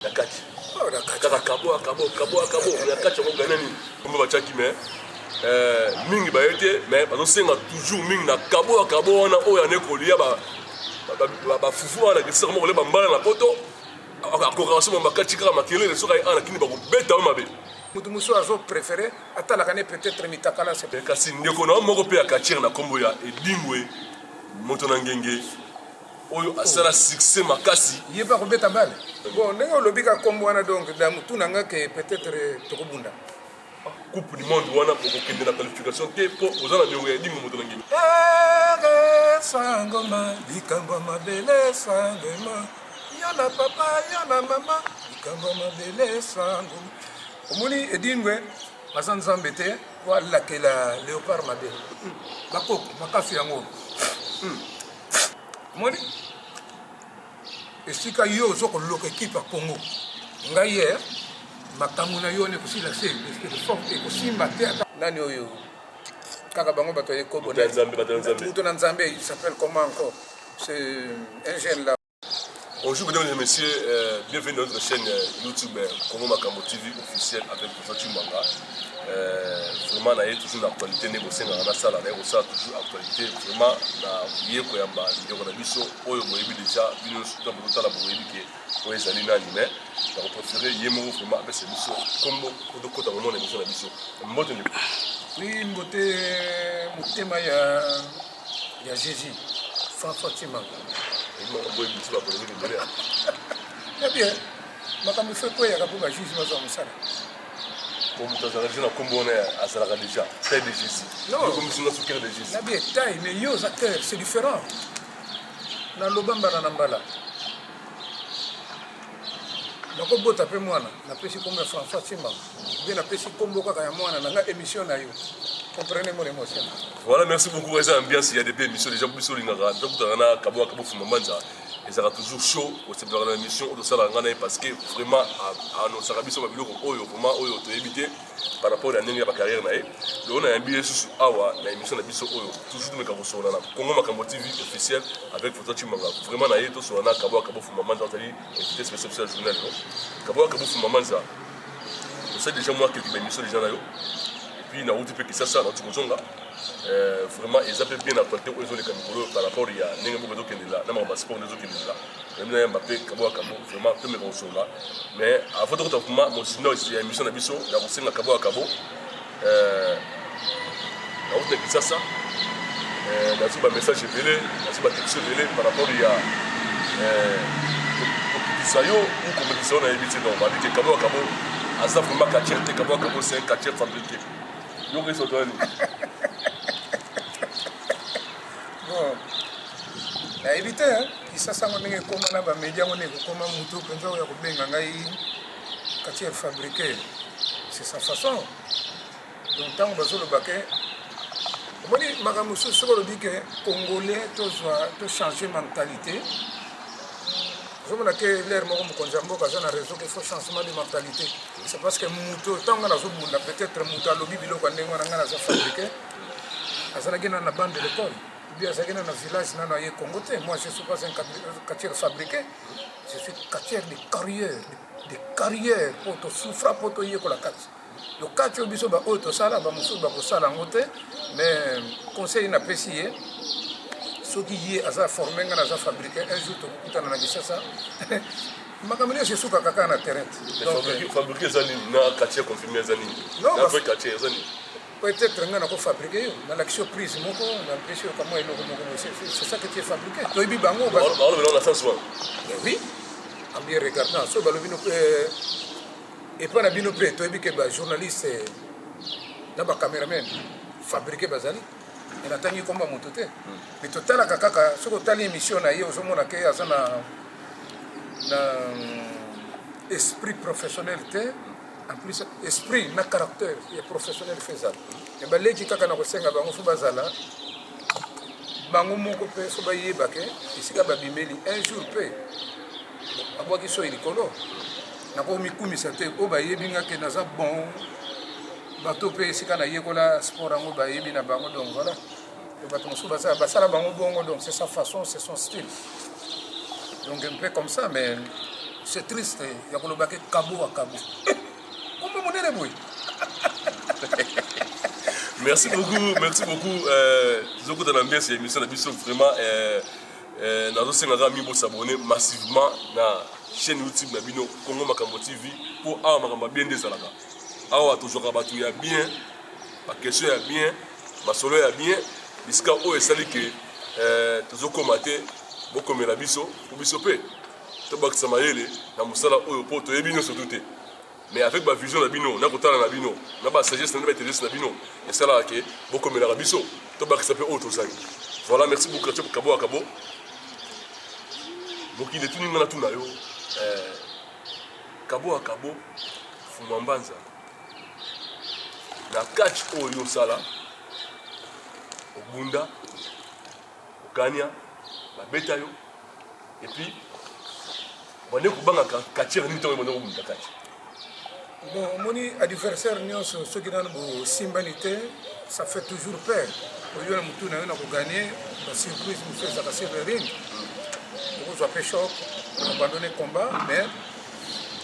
na kati kaka kabo akabo kabo akabo na kati yango gana nini kombo batiaki me eh, mingi baye te me bazosenga toujours mingi na kabo ya kabo wana oyo ane kolia bafufu wana lakisisa komoko le bambala na poto akokaka somo bakati kaka makelele soki aye ana kini bakobeta yo mabe moto mosusu azo préféré atalaka ne peut-être mitakala se kasi ndeko na yo moko mpe ya katire na nkombo ya edingwe moto na ngenge oyo asala succès makasi ye mpe akobeta bale bon ndenge olobi ka kombo wana donc damutu na nga ke peut-être tokobunda coupe du monde wana okokende na qualification te mpo oza na niongo ya edingo moto na ngimi sangoma likambo mabele sangoma yo na papa yo na mama likambo mabele sangoma omoni edingwe aza nzambe te po alakela leopard mabe bakoko makasi yango hmm. omoni esika yo ozo koloka ekipe ya congo ngai ye eh, makambo na yo nekosila se ekosimba te ata nani oyo kaka bango bato ya ekobo moto na nzambe il s'appelle comment encore c'est un jeune là Bonjour mesdames et messieurs, euh, bienvenue dans notre chaîne euh, YouTube euh, Congo Makambo TV officielle avec Professeur Chimanga. Euh, vraiment naye toujours na actualité nde bosengaka nasala naye kosala toujours actualité vraiment na ye koyamba ndeko na biso oyo boyebi déjà bino nyonso to bozotala boyebi ke oyo ezali nani mais nakoprefere ye moko vraiment apesa biso kombo tokota komona biso na biso mbote ndeko oui mbote motema ya ya jesus françois timanga ebien makambo fe kweyaka mpo bajuge bazwa mosala moto azalaka deja na nkombo wana azalaka deja taille de jésus okomisi nga sukere de jésus nabi taille mais yo oza cœur c'est différent naloba mbala na mbala nakobota mpe mwana napesi nkombo ya françois simbango nde napesi nkombo kaka ya mwana na nga émission na yo comprenez mon émotion voilà merci beaucoup eza ambiance ya depuis émission déjà biso olingaka tokutana na kabo kabo fuma manza ezalaka toujours chaud osepelaka na émission oyo tosalaka ngai na ye parce que vraiment anonsaka biso babiloko oyo vraiment oyo toyebi te par rapport ya ndenge ya bacarrière na ye lelo nayambi ye susu awa na émission na biso oyo toujours tomeka kosolana congo makambo tv officiel avec foto cimanga vraiment na ye tosolana kabo kabo fuma manza azali invité spécial spécial journal kabo kabo fuma manza osali deja mwa kelke baemission deja na yo epuis nauti mpe kisasa nauti kozonga euh, vraiment eza mpe bien actualité oyo ezoleka mikolo par rapport ya ndenge moko ezokendela na makambo ya sport nde ezokendela memi na yamba mpe kabo ya kabo vraiment tomeka kosolola mais avant tokota vraimen mosino ya émission na biso ya kosenga kabo ya kabo Euh, nawuta kisasa euh, nazwi bamessage ebele nazwi batexte ebele par rapport ya euh, kokitisa yo ou komelisa yo nayebi te donc babike kabo akabo aza vraimen katier te kabo akabo c'est un katier fabriqué yoko esoto yani nayebi te kisasa yango ndenge ekoma na bamedia yango ndenge ekokoma motu mpenza oyo ya kobenga ngai Katier fabriqué, c'est sa façon. Donc, tant que vous avez omoni makambo mosusu soki olobi ke congolais tozwa tochange mentalité ozomona ke lere moko mokonzi ya mboka aza na réseau ke faut changement de mentalité c'est parce que moto ntango ngai nazobunda peut-être moto alobi biloko ya ndenge wana ngai naza fabrike azalaki nana na bande de l'école obi azalaki nana na village nano aye congo te moi je suis pas un quartier fabriqué je suis catcheur de carrière de carrière mpo tosufra mpo toyekola kati lokati oyo biso baoyo tosala bamosusu bakosala yango te mais conseil napesi ye soki ye aza forme ngai naza fabrike un jour tokutana na kisasa makambo nyonso esuka kaka na terrain fabrike eza nini na quartier confirme eza nini na vrai quartier eza nini Peut être nga nako fabriquer yo, na lakisi yo prise moko, na pesi yo kamwa eloko moko boye, c'est ça que tu es fabriqué. Toyebi bango ba. Ba lobi na sens wana. Mais oui. En bien regardant, so balobi no euh, et pas na bino pe toyebi que ba journaliste euh, na ba cameraman fabriquer bazali. Et na tangi komba moto te. Hmm. Mais totalaka kaka soki otali émission na ye ozomona ke aza na na esprit professionnel te. en plus esprit na caractère ya professionnel fo ezala me baleki kaka na kosenga bango fo bazala bango moko mpe fo bayeba ke esika babimeli un jour mpe babwaki soyi likolo nakomikumisa te oyo bayebi nga ke naza bon bato mpe esika nayekola sport yango bayebi na bango donc voilà bato mosusu basala basala bango bongo donc c'est sa façon c'est son style donc un peu comme ça mais c'est triste ya koloba ke kabo wa kabo kombo monene boye merci beaucoup merci beaucoup euh, zokota na mbesi ya émission na biso vraiment euh, euh, nazosenga kaka mingi bosabone massivement na chaîne youtube na bino congo makambo tv mpo awa makambo ya bien nde ezalaka awa tozwaka bato ya bien baquestion ya bien masolo ya bien bisika oyo esali ke eh, tozokoma te bokomela biso po biso mpe tobakisa mayele na mosala oyo mpo toyebi nyonso tu te mais avec bavision na bino na kotala na bino na basagesse na bino baintelligence na bino esalaka ke bokomelaka biso tobakisa mpe oyo tozali voilà merci beaucoup atio kabo akabo mokili etuni nga natuna yo eh, kabo akabo fumwa mbanza na catch oyo yo osala obunda okania babeta yo epuis bande kobanga katiere nini ntango ebanda kobunda kati bon omoni adversaire nyonso soki nano bosimbani te ça fait toujours peur oyo na motu na yo na koganie basurprise mosusu ezalaka sur le ring okozwa mpe choc abandonne combat mais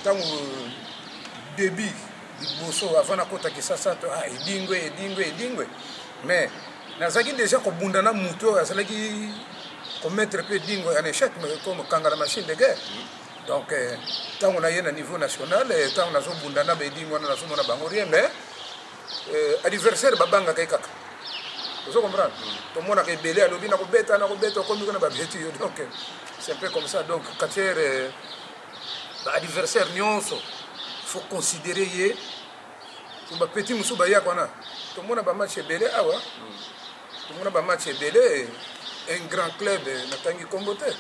ntango debut liboso avant nakota kisasa to ah, edingwe edingwe edingwe mais nazalaki déjà kobunda na moto oyo azalaki komettre mpe edingwe en échec kokanga na machine de guerre donc euh, ntango naye na niveau national euh, ntango nazobunda na baedingwe wana nazomona bango rien mais euh, adversaire babangaka ye kaka ozo comprendre tomonaka ebele alobi nakobeta nakobeta okomi kuna babeti yo donc c'est un peu comme ça donc katiere ba adversaire nyonso faut considérer ye po bapeti mosusu bayaka wana tomona bamatch ebele awa tomona bamatch ebele un grand club natangi nkombo te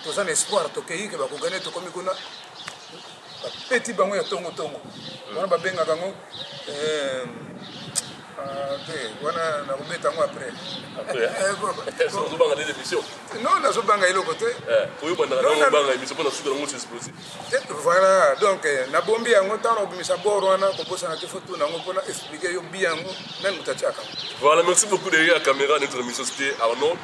toza na espoir tokei ke bakogane tokomi kuna bapeti bango ya tongotongo wana babengaka yango euh, nazobanga eloko te voilà donc eh, nabombi yango ntango obimisa bor wana kobosana te fo tuna yango mpona explike yo bi yango nani moto atiaka voilà merci beaucoup derrière la caméra notre émission c'était arnaud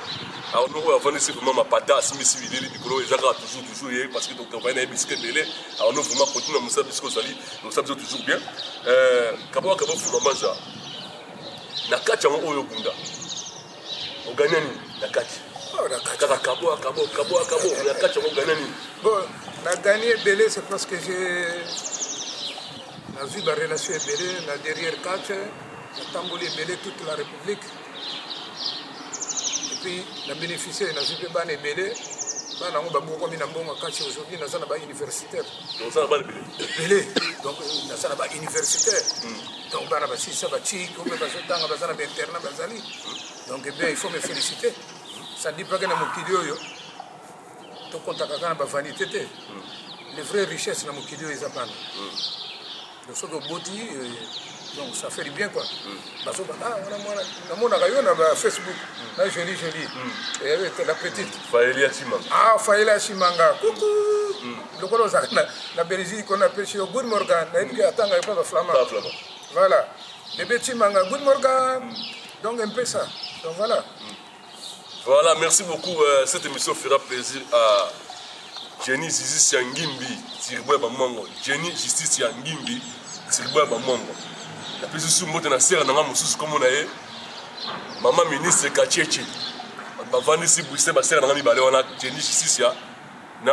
arnaud oyo avandisi vraiment mapata asimisi bilili mikolo eza kaka toujours toujours ye parce que totravaille na ye bisika ebele arnaud vraiment continue na mosala bisika ozali Losa biso toujours bien. Euh, kabo kabo fuma maza. Na kati yango oyo bunda. Oganya nini na kati? Oh, na kati kaka kabo kabo kabo kabo na kati yango oganya nini? Bon, na gagné belé c'est parce que j'ai na vie ba relation belé na derrière catch, na tamboli belé toute la république. Et puis na bénéficier na vie pe bana belé. Bana yango babokomi na mbongo kati aujourd'hui naza na ba universitaire. oza na bana ebele ebele donc naza na bauniversitaire donc bana basilisa batiki obe bazotanga baza na bainternat bazali donc ebien eh il faut me félicite sadi pake na mokili oyo tokontaka kaka na bavanité te le vrai richesse na mokili oyo eza bana soki oboti euh, donc ça fait du bien quoi mm. bazoba ah wana mwana namonaka yo na facebook mm. na joli joli mm. eh, la petite faeli asimanga ah faeli asimanga kuku lokola ozala na belgique kona pesi yo good morgan nayebiki atanga epa baflama voilà bebe timanga good morgan donc un peu ça donc voilà Voilà, merci beaucoup. Euh, cette émission fera plaisir à Jenny Zizi Siangimbi, Tiribouya Bamongo. Jenny Justice Siangimbi, Tiribouya Bamongo. La plus sous moto na sœur nanga mususu comme on a eu. Maman ministre Kacheche. Bavandi si Bruxelles ba sœur nanga mibale wana Jenny Justice ya na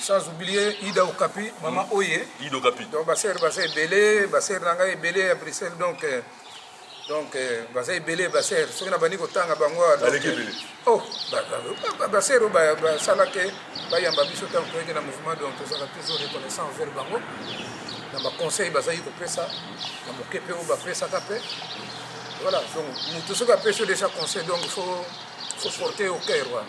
sans oublier Ida Okapi, maman mm. Oye. Ida Okapi. Donc, ma sœur, ma sœur Belé, ma sœur Nanga est Belé à Bruxelles, donc. Euh, donc euh, baza ebele baser soki na bandi kotanga bango ah, euh, oh, baser oyo basala ke bayamba biso ntango toyeke na mouvement donc tozala toujours reconnaissant envers bango na baconseil bazalaki kopesa na moke mpe oyo bapesaka mpe voilà donc moto soki apesi yo déjà conseil donc faut faut porter au cœur wana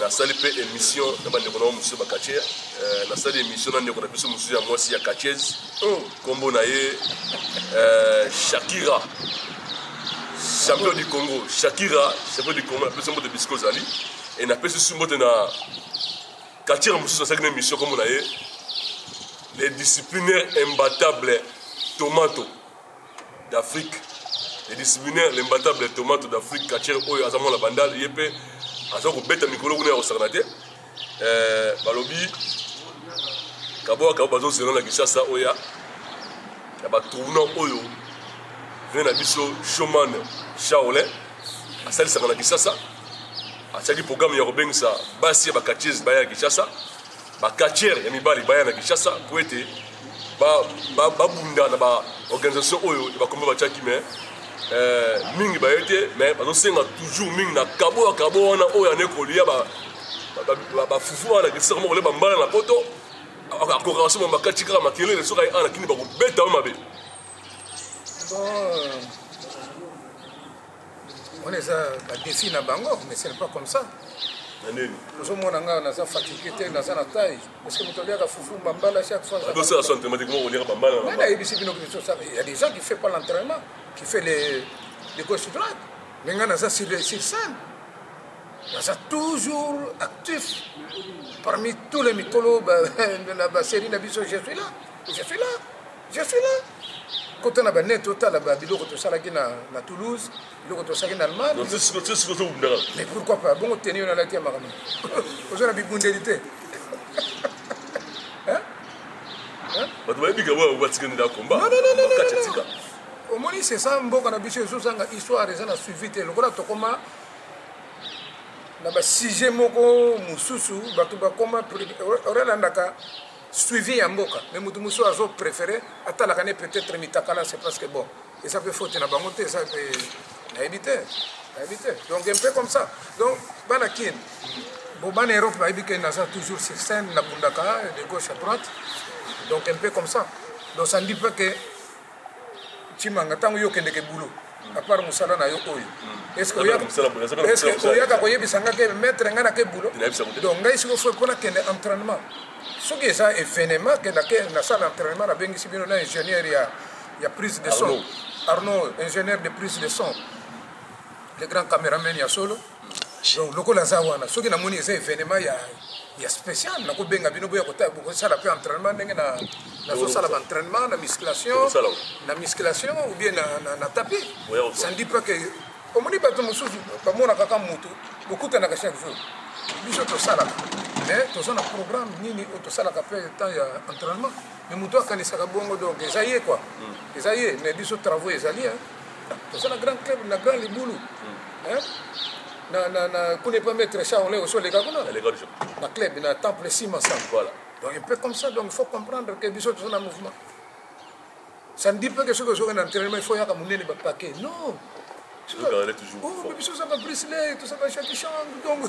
Nasali mpe emission na bandeko na mosusu ba catcher euh, nasali emission na ndeko na biso mosusu ya mwasi ya catcheuse oh. nkombo na ye euh, Shakira champion du Congo Shakira champion du Congo napesi mbote bisika ozali e napesi su mbote na catcher mosusu nasalaki na emission nkombo na ye le disciplinaire imbattable tomato d'Afrique le disciplinaire l'imbattable tomato d'Afrique catcher oyo aza mwana bandal ye mpe aza kobeta mikolo kuna ya kosakana te eh, balobi kaboa kabo bazozela na kinshasa oya ya batournant oyo vene na biso shoman shaolin asalisaka na kinshasa atiaki programme ya kobengisa basi ya bakatiese baya ya kinshasa Ba catcheurs ya mibali baya na Kinshasa mpo ete babunda na ba organisation oyo ya bakombe batiaki me eh, mingi baye te me bazosenga toujours mingi na kabo ya kabo wana oyo ane kolia bafufu wana kisaka moko kolia bambala na poto akokaka soki bakati kaka makelele soki aye ana kini bakobeta yo mabe wana eza badefi na bango mais ce n'est pas comme ça ozomona ngai naza fatigue te naza na taille parceke moto aliaka fufu bambala chaque foinayebisi bino ya des gens qui fait pas l'entraînement qui fait les, les gauche droite mais ngai naza sur scène naza toujours actif parmi tous les mikolo na baserie na biso je suis là je suis là Je suis là. Kota na ba net otala ba biloko tosalaki na na Toulouse, biloko tosalaki na Allemagne. Donc c'est ce que c'est vous ndala. Mais pourquoi pas? Bongo tenir na la tia makambo. Ozo na bibundeli te. Hein? Hein? Bato bayebi kaka oyo batikani na combat. Non, non, non, non, Kati non, tika. non. omoni c'est ça mboka na biso ezozanga histoire eza na suivi te lokola tokoma na basujet moko mosusu bato bakoma pre- o- orelandaka suivi ya mboka mais mutu mosusu azo préféré atalaka ne peut-être mitakala c'est parce que bon eza mpe faute na bango te eza mpe nayebi te nayebi te donc un peu comme ça donc bana kin bon bana europe bayebi ke naza toujours sur scène nabundaka de gauche à droite donc un peu comme ça donc ça ne dit pas que Chimanga, ntango yo okendeke bulo apart mosala na yo oyo oyaka koyebisa nga ke maitre ngai nake bulo donc ngai siko foi mpo nakende entraînement soki eza événement ke nasala entraînement nabengisi bino na ingénieur ya, ya prise de son arnaud ingénieur de prise de son le grand cameraman ya solo donc lokola aza wana soki namoni eza evenement ya ya spécial nakobenga bino boya kosala mpe entraînement ndenge nazosala baentraînement na musculation na musculation ou bien na tapi ça ne dit pas que omoni bato mosusu bamonaka ka motu bokutanaka chaque jour biso tosalaka mais toza na programme nini oyo tosalaka mpe temps ya entraînement mais motu akanisaka bongo donc eza ye quoi hmm. eza ye mais biso travaux ezali toza na grand club na grand libulu hein? na na na kuna epa maître charle osi oleka kuna aleka biso na club na temple sima sa voilà donc un peu comme ça donc il faut comprendre que biso toza na mouvement ça ne dit pas que soki ozoka na entraînement il faut yaka monene bapake non Regarde, elle est toujours Oh, forte. mais bisous, ça va briseler, tout ça va chaque chambre, donc.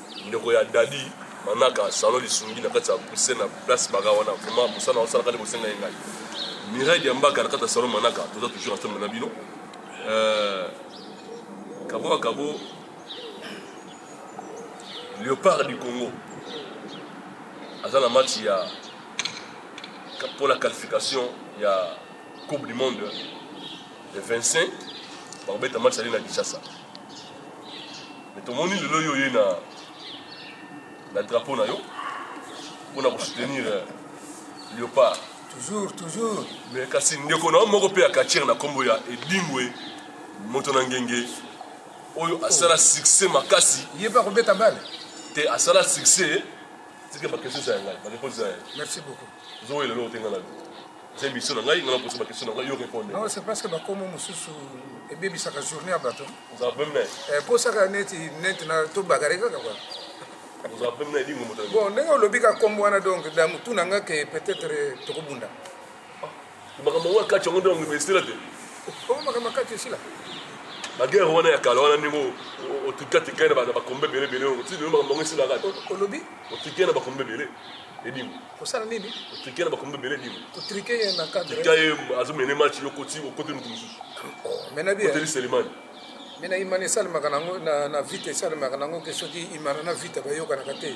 Ndeko ya Dady manaka salon lisungi na kati ya pousse na place baka wana vraiment mosala na osalaka nde bosenga ye ngai Mireille Diambaka na kati ya salon manaka toza toujours ensemble na bino euh, kabo na kabo Léopard du Congo aza na match ya pour la qualification ya coupe du monde le 25 bakobeta match ali na Kinshasa mais tomoni lelo yo oye na na drapeau na yo mpona kosoutenir euh, léopard toujours toujours mais kasi ndeko na yo moko mpe ya katire na nkombo ya edingwe moto na ngenge oyo asala succès makasi ye mpe akobeta bale te asala succès tika bakesesa ya ngai bareponse ya merci beaucoup Zoe lelo otenga na c'est biso na ngai ngana posa ba question na ngai yo répondre non c'est parce que ba komo mususu ebebisaka journée ya bato oza peme na ye posaka eh, neti neti na tobakare kaka kwa oza peme na ye dingo moto bon ndenge olobi ka kombo wana donc damutu na nga ke peut-être tokobunda makambo yango ya kati yango nde bango esila te oyo makambo ya kati esila bagere wana ya kala wana ndenge otika tika na bakombe ebele ebele oti lelo makambo yango esila kati olobi otika na bakombe ebele edimo kosala nini otika na bakombe ebele edimo kotrike ye na cadre tika ye azomene match yo koti okoti moto mosusu oh, menabi oteli selemani mena imani esalemaka nango na vite esalemaka nango ke soki imana na vite bayokanaka te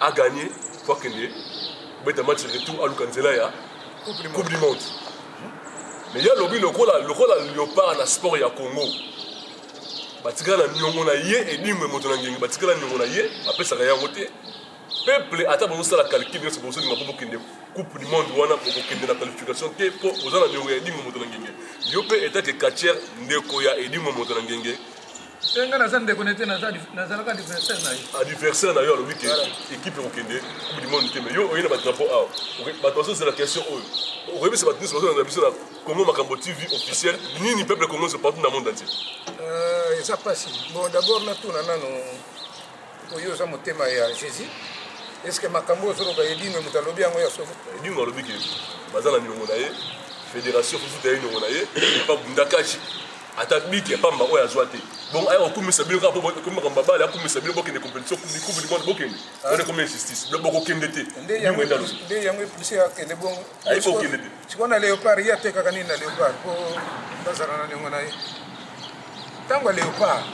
a gagner po akende kobeta match retour aluka nzela ya coupe du monde mais ye alobi lokola lokola leopard na sport ya congo batikala na niongo na ye edingwe moto na ngenge batikala na niongo na ye bapesaka yango te peuple ata bozosala calcul nyonso bozolinga po bokende coupe du monde wana bokokende na qualification te po oza na niongo ya edingwe moto na ngenge yo mpe etake katier ndeko ya edingwe moto na ngenge Eh, nga naza ndeko nete nazalaka adversaire na ye adversaire na yo alobi ke équipe ekokende coupe du monde te mais yo oye na badrapo awa bato bazozela question oyo okoyebisa bato nyonso bazolanda biso na congo makambo tv officiel nini peuple congo nyonso partout na monde entier euh, eza mpasi bon d'abord natuna nano oyo oza motema ya jésus est ce que makambo ozoloba edingo moto alobi yango ya soko edingo alobi ke baza na milongo na ye fédération fufuta ye niongo na ye epa bundakashi ata biki ya pamba oyo azwa te bongo aya kokumisa bino kaka po ekomi makambo babale akumisa bino bokende competition coupe coupe du monde bokende ah. wana ekomi injustice bino bokokende te nde yango epuse akende bongo ayebi kokende te sikoyo na leopard ye atekaka nini na leopard po bazala na ndenge na ye ntango ya leopard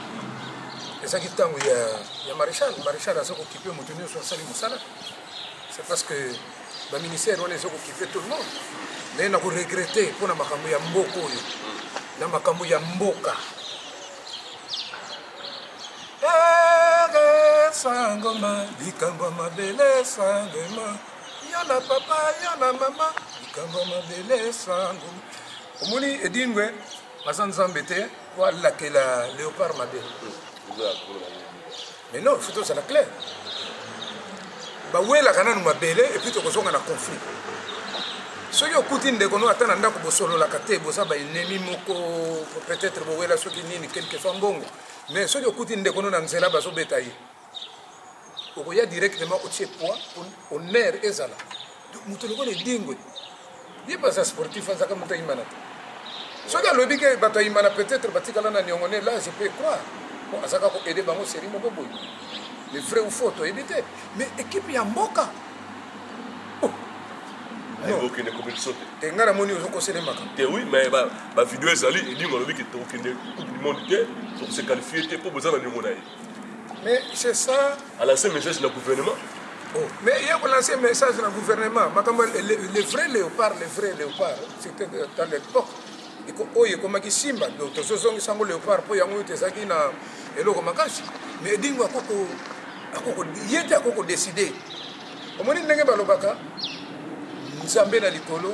ezalaki ntango ya maréchal maréchal aza kokipe moto nyonso asali mosala c'est parce que ba ministère wana ezo kokipe tout le monde mais na ko regretter mpo na makambo ya mboka oyo na makambo ya mboka sangoma likambo mabele sangoma yo na papa yo na mama likambo mabele sangoma omoni edingwe aza nzambe te po alakela leopard mabe Mais non, faut tozala clair. Bawelaka nanu mabele et puis tokozonga na conflit. soki okuti ndeko no ata na ndako bosololaka te boza baennemi moko peut-être bowela soki nini quelque fois mbongo mais soki okuti ndeko no na nzela bazobeta ye okoya directement otie poids honneur ezala moto lokola edingwe ye baza sportif azaka moto ayimana te soki alobi ke bato ayimana peut-être batikala na niongo ne là je peux croire po azaka ko aide bango série moko boye le vrai ou faux toyebi te mais équipe ya mboka okende coupe du monde te ngai namoni ozokosele makambo te oui mais bavideo ezali edingo alobi ke tokokende coupe du monde te tokose qualifie te mpo boza na niongo na ye Mais c'est ça. À lancer message le gouvernement. Oh. Mais il y a lancé message le gouvernement. Le vrai léopard, le vrai léopard, c'était dans l'époque. oyo ekomaki simba donc tozozongisa yango léopard mpo yango ete ezalaki na eloko makasi mais edingo ye te akoki kodeside omoni ndenge balobaka nzambe na likolo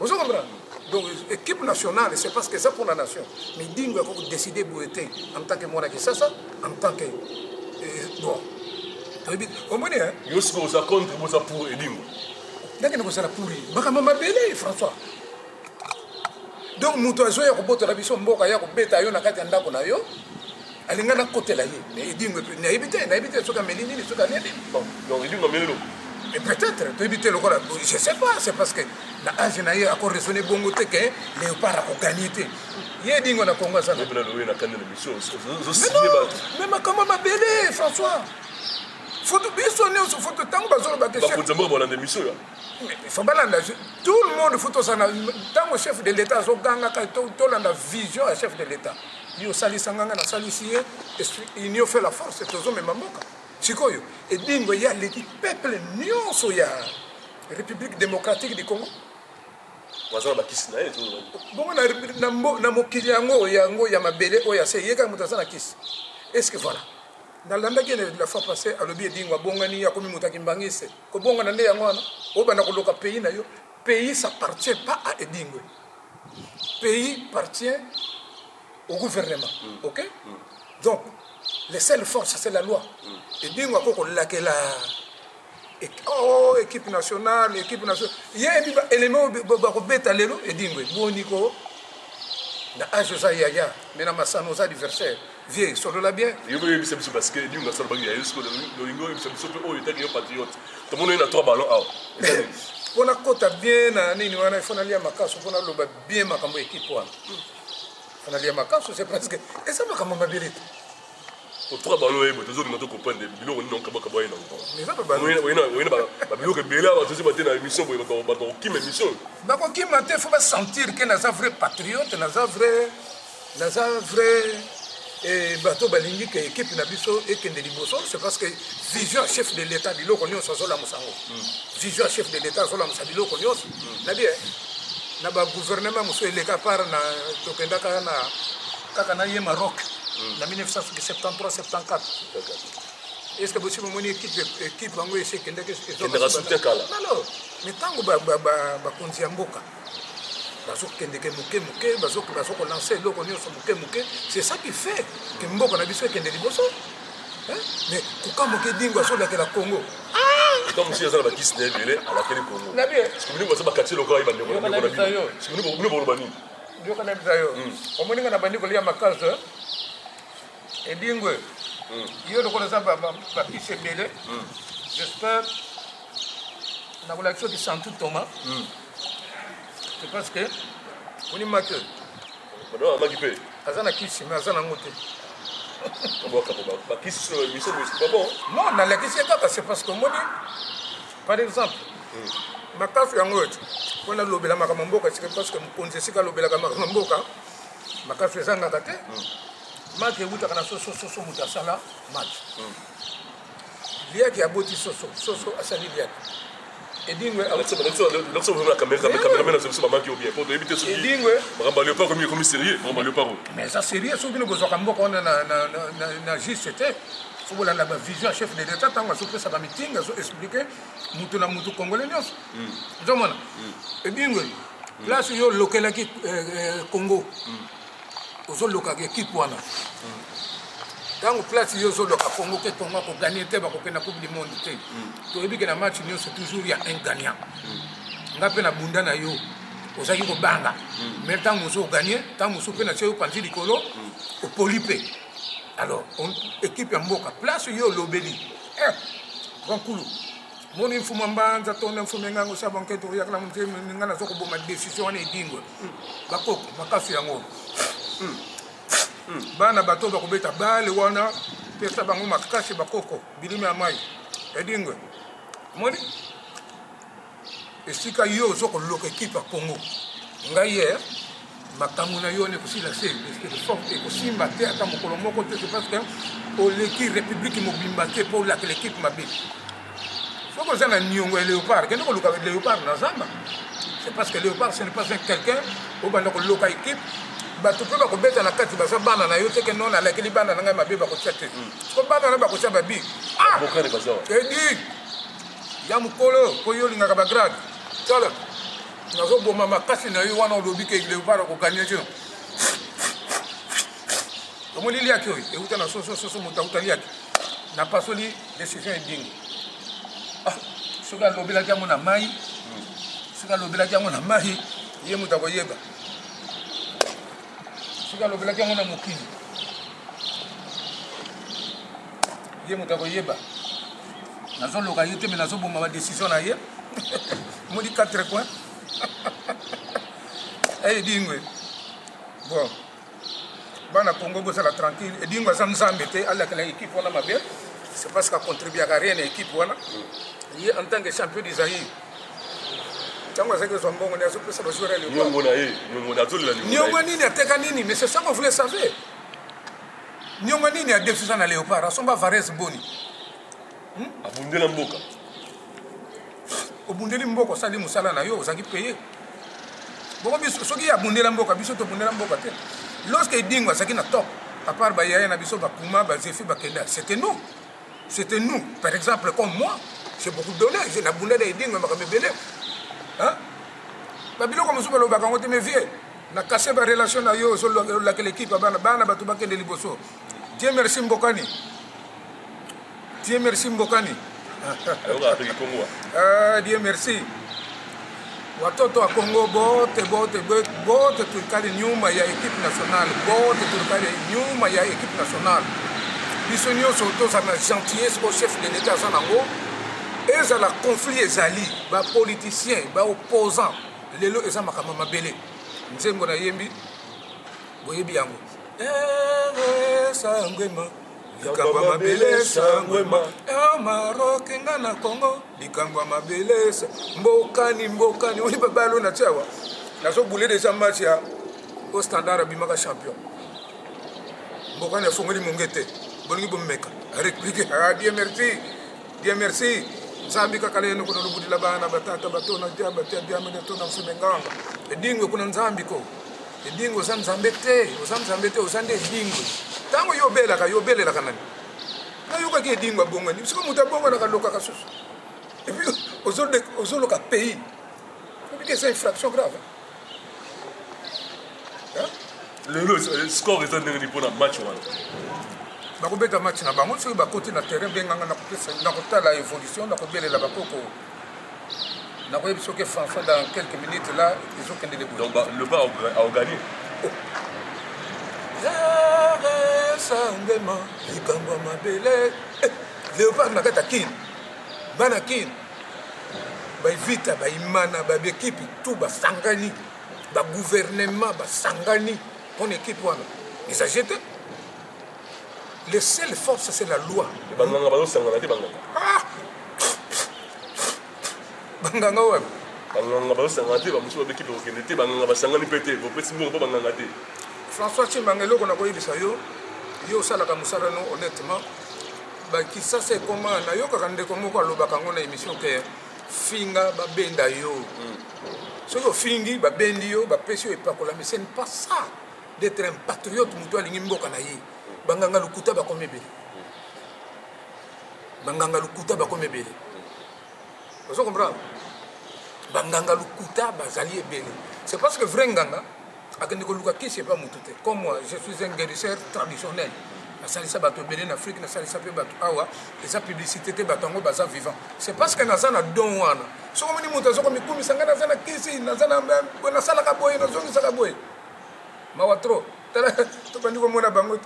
ozo comprendre donc équipe nationale c'est parce que eza pour la nation mais dingo ya kodécide boye te en tant que mwana kisasa en tant que eh, bon toyebi omoni yo sika oza contre boza pour edingo ndenge na kozala pour ye makambo mabele françois donc moto azoya kobotola biso mboka ya kobeta yo na kati ya ndako na yo alinga nakotela ye mais edingo epe nayebi te nayebi te soki ameli nini soki alie nini donc edingo ameli eloko et peut-être toyebi te lokola je sais pas c'est parce que na age na ye akoraisonne bongo te ke léopard akogagne te ye edingo na kongo aza mais makambo mabele françois foto biso nyonso foto ntango bazolobaka faut balanda tout le monde faut tozala ntango chef de l'état azogangaka tolanda vision ya chef de l'état Yo salisa nga nga na salisi ye union fait la force tozo mema mboka sikoyo edingo ye aleki peuple nyonso ya république démocratique du congo waza na bakisi na ye bongo na mokili yango yango ya mabele oyo ase ye kaka moto aza na kisi est ce que voilà nalandaki ene la fois passé alobi edingo abongani akomi moto akimbangise kobongana nde yango wana obanda koloka pays na yo pays s'appartient pas à edingo pays partient au gouvernement mm. ok mm. donc les seules forces c'est la loi mm. ebingo ako kolakela oh, équipe nationale équipe nationale ye ebi baélément bakobeta lelo edingo eboni ko na age oza yaya me na masano oza adversaire Vieux, solola bien. Yo ko yebisa biso parce que Dinga solo bagi ya yo solo lolingo yebisa biso pe oyo etaki yo patriote. To mona na trois ballons awa. Mpo nakota bien na nini wana ifo nalia makasu mpo naloba bien makambo ya ekipe wana mpo nalia makasu c'est parce que eza makambo mabele te otoka bango oyeba tozolinga tokomprendre biloko nini okabakaba ye nangoyena babiloko ebele awa tozi bate na émission boye bato bakokima émission bakokima te fo basentir ke naza vrai patriote naza vrai naza vrai eh, bato balingi ke ekipe na biso ekende liboso c'est parce que vision chef de l'état biloko nyonso azolamusa yango hmm. vision chef de l'état azolamusa biloko nyonso hmm. na bie na bagouvernement mosusu eleka par na tokendaka na kaka na ye maroc hmm. na 1973 74 est ce que bosi bomoni équipe équipe yango esi ekendaki ezotekala mais ntango bakonzi ya mboka bazokendeke moke moke bazokolanse eloko nyonso moke moke c'est ça qui fait ke mboka na biso ekende liboso mais kokamwa ke dingo azolakela congo donc mosi aza na bakisi na ebele alakeli congo sikominingo baza bakati lokola ye bandeko na bino sikominingo boloba nini yokanabisa yo omoninga na bandi kolia makasi Edingwe, mm. yo lokola oza bakisi ebele mm. j'espère nakolakisa yo kisantu toma mm. c'est parce que onima te amaki mpe aza na kisi mais aza nango te non nalakisi ye kaka c'est parce que omoni par exemple makasi yango oyo mpo nalobela makambo mboka esika parce que mokonzi esika alobelaka makambo mboka makasi ezangaka te Marc ewutaka na soso soso moto asala Marc hmm. liaki aboti soso soso asali liaki edingwe mais eza sérieux soki bino bozwaka mboka wana na juste te soki bolanda bavision ya chef de l'état ntango azopesaka meeting azo explike moto na moto congolais nyonso ozomona edingwe place yo olokelaki congo ozolokaka ekipe wana ntango place yo ozoloka congo ke congo akoganie te bakokenda coupe du monde te toyebi ke na match nyonso toujours ya un gagnant nga mpe na bunda na yo ozalaki kobanga mai ntango mosusu oganie ntango mosusu mpe na tia yo panzi likolo opoli mpe alors ekipe ya mboka place yo olobeli eh, grand kulu moni mfuma mbanza tonda mfuma engango sa banke toyakala motema ninga naza koboma décision wana edingwe bakoko makasi yango bana bato bakobeta bale wana pesa bango makasi bakoko bilima ya mai edingwe moni esika yo ozo koloka ekipe ya congo ngai ye eh? makambo na yo wana ekosila se forte ekosimba te ata mokolo moko te se parce que oleki république mobimba te mpo olakela ekipe mabe soki oza na niongo ya léopard kende koluka léopard na zamba c'est parce que léopard ce n'est pas un quelqu'un obanda koloka équipe bato mpe bakobeta na kati baza bana na yo teke no nalakeli bana na ngai mabe bakotya te mm. ko bana na bakotya babi ah! edi ya mokolo mpo yo olingaka bagrade tala Nazo boma makasi na yo wana olobi ke Leopard ko gagner je. Omoni liaki oyo euta na soso soso moto auta liaki na pasoli decision edingi ah, soki alobelaki yango na mai hmm. soki alobelaki yango na mai ye moto akoyeba soki alobelaki yango na mokili ye moto akoyeba nazoloka ye te me nazoboma badecision na ye modi 4 coin ey edingwe bon bana congo bozala tranquille edingwe aza nzambe te alakela ekipe wana mabe c'est parce que acontribuaka rien na ekipe wana ye en tant que champion du zaïre ntango azalaki kozwa mbongo nde azopesa bajoueur ya niongo nini ateka nini mais c'est ça qu'on voulait savoir Nionga nini ya defisa na Leopard asomba Varese boni? Hmm? Abundela mboka. Obundeli mboka osali musala na yo ozaki paye. Boko biso soki abundela mboka biso tobundela mboka te. Lorsque Edingo azaki na top, à part ba yaya na biso ba Puma, ba Zefi, ba Kenda, c'était nous. C'était nous. Par exemple, comme moi, j'ai beaucoup donné, j'ai la bundela Edingo makambo ebele. Hein? Ba biloko mosusu balobaka ngo te mais vieux Na casse ba relation na yo ozo lakela equipe bana bana bato bakende liboso. Dieu merci Mbokani. Dieu merci Mbokani. ah, Dieu merci. Watoto wa Kongo bote bote bote tulikali nyuma ya equipe nationale bote tulikali nyuma ya equipe nationale biso nyonso toza na gentillesse o chef de l'etat aza nango ezala conflit ezali bapoliticien baopposant lelo eza makambo ya mabele nzembo nayembi boyebi yango sangwema likambo ya mabele sangwema ya maroke nga na congo likambo ya mabele mbokani mbokani oyi babalo na tiawa nazobule deja match ya o standard abimaka champion mbokani afongoli monge te bolingi bomeka replique abie ah, merci Bien merci. Zambi kaka lelo kuna lubudila bana batata batona dia batia dia mene tona mfume ngamba. Edingwe kuna nzambi ko. Edingwe za nzambe te, oza nzambe te, oza nde edingwe. Tango yo belaka, yo belelaka nani? Na yoka ki edingwe bongo ni. Siko muta bongo na kaloka kasusu. Et puis ozoloka pays. Obi que c'est une fraction grave. lelo eh, score eza ndenge nini mpona match wana bakobeta match na bango soki bakoti na terrain benganga nakopesa nakotala évolution nakobelela bakoko nakoyebi soki fanfan dans quelques minutes là ezokende leboleba aoganie sangema likambo ya mabele eh, leopard na kati ya kin bana kin baevita baimana baekipe tu basangani baguvernema basangani mpona ekipe wana eza je te le seul force c'est la loi banganga bazosangana te banganga ah! banganga wana banganga bazosangana te bamosusu babeki kokende te banganga basangani mpe te bopesi mbongo mpo banganga te françois cimbanga eloko na koyebisa yo yo osalaka mosala no honnêtement Ba kisasa ekoma nayokaka ndeko moko alobaka yango na emission ke finga babenda yo mm. soki ofingi babendi yo bapesi yo epakolami ce n'est pas ça d'être un patriote moto alingi mboka na ye banganga lokuta bakomi ebele banganga lokuta bakomi ebele ozo comprendre banganga lokuta bazali ebele c'est parce que vrai nganga akende koluka kisi epa motu te comme moi je suis un guérisseur traditionnel nasalisa bato ebele na afrique nasalisa mpe bato awa eza publicité te bato yango baza vivant c'est parce que naza na don wana soki omoni moto aza komikumisa ngai naza na kisi naza nasalaka boye nazongisaka boye mawa trop tala tobandi komona bango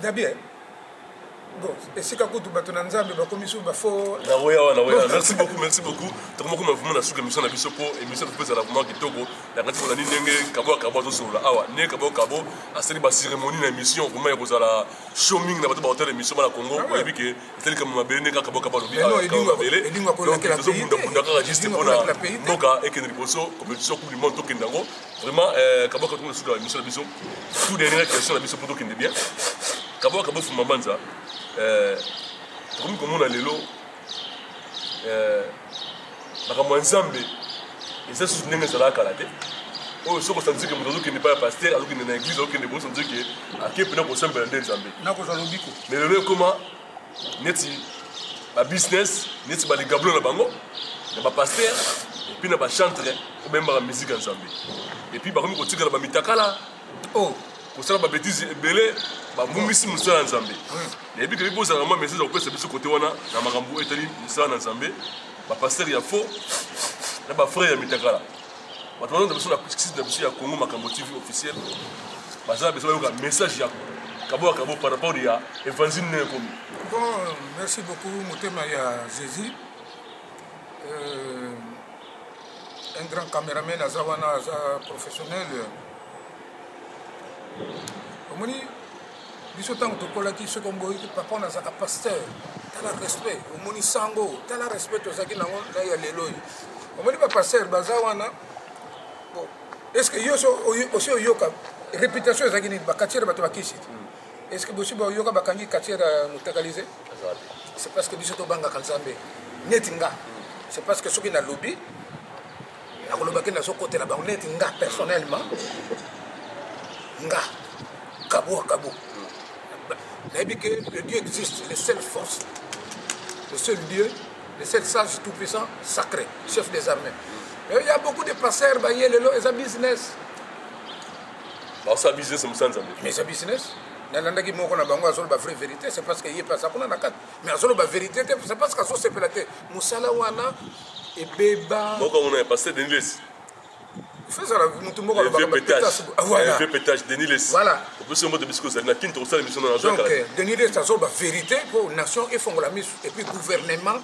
dabie Bon, esika kutu bato na nzambe bakomi susu bafo naoya wana naoya merci beaucoup merci beaucoup tokoma koma vraimen na suka émission na biso mpo émission topo ezala vraimen kitoko nakati kolandi ndenge kabo ya kabo azosolola awa ndenge kabo kabo asali bacérémonie na émission vraimen ya kozala show mingi na bato baotala émission bana congo ah oyebi ke ezali kama mabele ndenge kaka kabo kabo alobi tozobundabunda kaka juste mpona mboka ekende liboso compétition coupe du monde tokende yango Vraiment, euh, Kabwa Katumba Suka, la mission de Bison, fou dernière question de Bison Poto Kendebien. Kabwa Kabwa Fumamanza, euh, comme comme on a l'élo, euh, makambo ya nzambe eza susu ndenge ezalaka kala te oyo soki osanzike moto azokende epai ya paster azokende na eglise azokende bosanzike ake mpena kosambela nde nzambe nakozwa lobiko me lelo ekoma neti ba business neti ba ligablo na bango na ba pasteur epuis na ba chantre oyo bayembaka miziki ya nzambe epuis bakomi kotikala bamitakala o oh, kosala babetise ebele babungisi mosala ya nzambe nayebi kebi bozala mwa message ya kopesa biso kote wana na makambo etali mosala na nzambe bapastere ya faux na bafrere ya mitakala bato balonda biso na site na biso ya congo makambo tv officiel baza na biso bayoka message ya kaboa kabo par rapport ya évangile nde ekomi bon merci beaucoup motema ya jésus euh, un grand cameraman aza wana aza professionnel omoni biso ntango tokolaki soki omboyiki papa wana azalaka pasteur tala respect omoni sango tala respect tozalaki nango na ya lelo oyo omoni bapasteur baza wana estce yo osi oyoka réputation ezalaki nini bakatiere bato bakisi hmm. estce bosi bayoka bakangi katiere ya motakalise c'est parce que biso tobangaka nzambe neti nga hmm. c'est parce que soki nalobi nakoloba ke nazokotela bango neti nga personnellement nga kabo kabo nayebi ke le dieu existe le seul force le seul dieu le seul sage tout puissant sacré chef des armées mais il y a beaucoup de passeurs baye lelo eza business baosa business mosala nzambe mais eza business nalandaki moko na bango azoloba vraie vérité c'est parce que ye mpe aza kuna na kati mais azoloba vérité te c'est parce que azosepela te mosala wana ebeba moko mona ya pasteur Denis Lessi fezala mutu moko alobaka pétage ah, voilà vieux pétage Denis Lessi voilà opesi mbote bisiko ozali na kin tokosala émission na donc euh, Denis Lessi azoloba vérité mpo nation efongola misu et puis gouvernement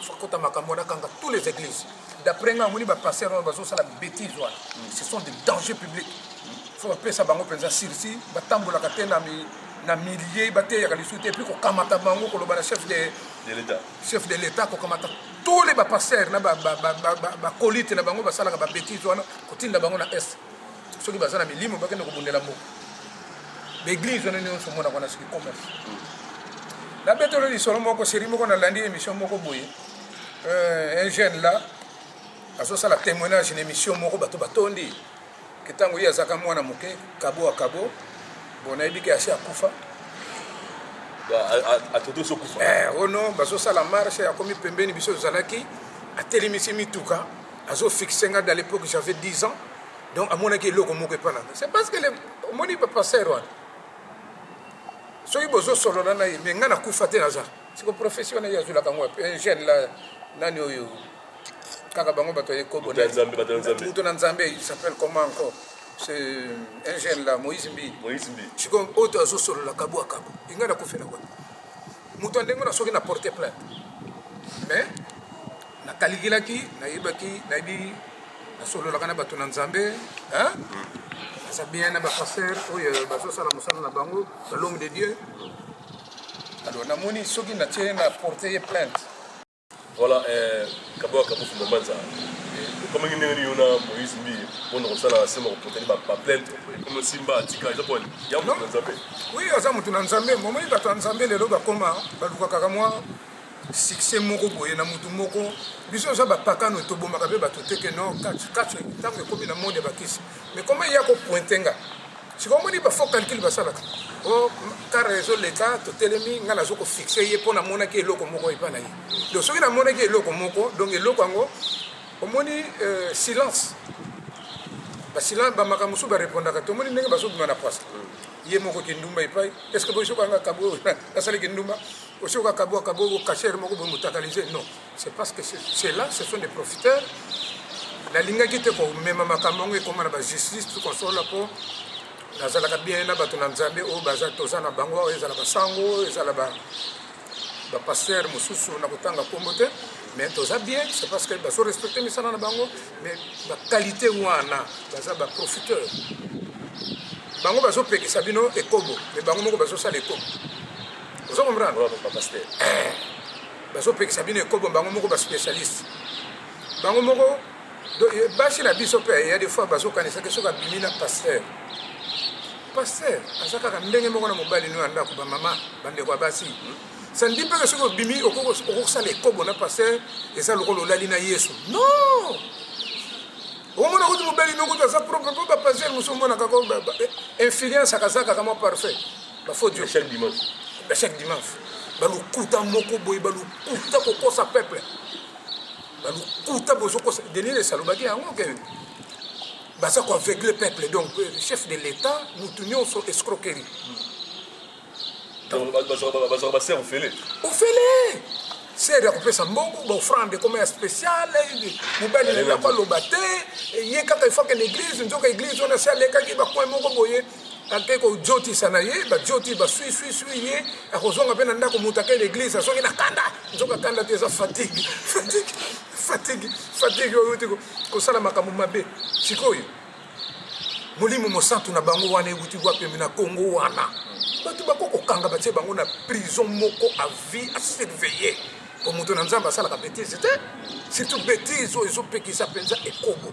fakota makambo wana kanga tous les églises d'après nga amoni bapasteur wana bazosala bêtise wana ce sont des dangers publics fo bapesa bango mpenza sursi batambolaka te na na milieu bateyaka lisusu te epuis kokamata bango koloba na chef de, de l'état chef de l'etat kokamata tous les bapasteur na bakolite na bango basalaka babetise wana kotinda bango na est soki baza na milimo bakende kobundela mboka baeglise wana nyonso omonaka na soki commerce nabetolo lisolo moko seri moko nalandi émission moko boye euh, un jeune là azosala témoignage na émission moko bato batondi ke ntango ye azalaka mwana moke kabo wa kabo bo nayebi ke asi akufa eh, ono oh bazosala marche akomi pembeni biso tozalaki atelemisi mituka azofixe nga da l'époque j'avais 10 ans donc amonaki eloko moko epa na nga c'est parce que omoni bapaster wana soki bozosolola na ye me nga nakufa te naza siko profession na ye azwilaka ngo un jeune la nani oyo kaka bango bato ya ekobo Moto ya Nzambe, bato ya Nzambe. moto na nzambe il s'appelle comment encore ce un jeune là moïse mbi Moïse Mbi. sikoyo oyo to azosolola kabu akabu ingai nakufela kwa moto ya ndenge wana soki na porte plainte mais nakalikilaki nayebaki nayebi nasololaka na bato na nzambe hein? naza bien na bapaster oyo bazosala mosala na bango balome de dieu alors namoni soki natie na porte ye plainte Voilà, eh, Kaboa Kabofu Mamanza. Comme il y a une Moïse Mbi, on a ça là, c'est mon côté, ma plainte. Comme Simba, Tika, il y a quoi Il y a un peu Nzambe. Oui, il y a un peu Nzambe. Moment il y a un Nzambe, les lois comme ça, bah du coup, car moi, succès moko boye na mutu moko biso oza bapakano tobomaka mpe bato te ke non kati kati ntango ekomi na monde ya bakisi mais comment ya kopointe nga sikoyo omoni ba faux calcul basalaka o oh, kara ezoleka totelemi ngai nazo kofixe ye mpo namonaki eloko moko epai na ye donc soki namonaki eloko moko donc eloko yango omoni euh, silence basilence bamakambo mosusu barepondaka tomoni ndenge bazobima na pwasa ye moko kindumba epai estce boyokanga kabo asali kindumba osioka kabo akabo kashere moko boye motakalise non c'est parce que c'est là ce sont des profiteurs nalingaki te komema makambo yango ekoma na bajustice tukonsola mpo nazalaka bien na bato na nzambe oyo baza toza na bango oyo ezala basango ezala bapaster ba mosusu na kotanga nkombo te mais toza bien c'est parce que bazo respecte misala na bango mais baqualité wana baza baprofiteur bango bazopekisa bino ekobo mais bango moko bazosala ekobo ozo comprendre bazopekisa bino ekobo bango moko ba specialiste bango moko eh, basi na biso mpe ya de fois bazokanisaki soki abimi na pasteur pasteur aza kaka ndenge moko na mobali no ya ndako bamama bandeko ya basi ça ne dit pas que soki obimi okosala ekobo na pasteur eza lokola olali na yesu non omona kuti mobali no kuti aza propre mpo bapasteur mosusu omonaka ko eh, influence akazakaka mwa parfait bafodio ya chaque dimanche ya chaque dimanche balukuta moko boye balukuta kokosa peuple balukuta bozokosa denis les alobaki yango ke baza koaveugle peuple donc euh, chef de l'état motu nyonso escroquerie bazwaka baser ofele ofele ser ya kopesa mbongo baofrande ekoma ya spécial mobali na ye akoloba te ye kaka efaka na église nzoka église wana se alekaki bakoin moko boye ake kojotisa na ye bajoti baswiswiswi ye akozonga mpe na ndako moto ake l'église azongi na kanda nzoka kanda te eza fatigue fatigue fatigue fatigue oyo euti kosala makambo mabe sikoyo molimo mosantu na bango wana euti wapembe na kongo wana bato bako kokanga batie bango na prison moko a vie a surveiller po moto na nzambe asalaka betise te surtout betise oyo ezopekisa mpenza ekobo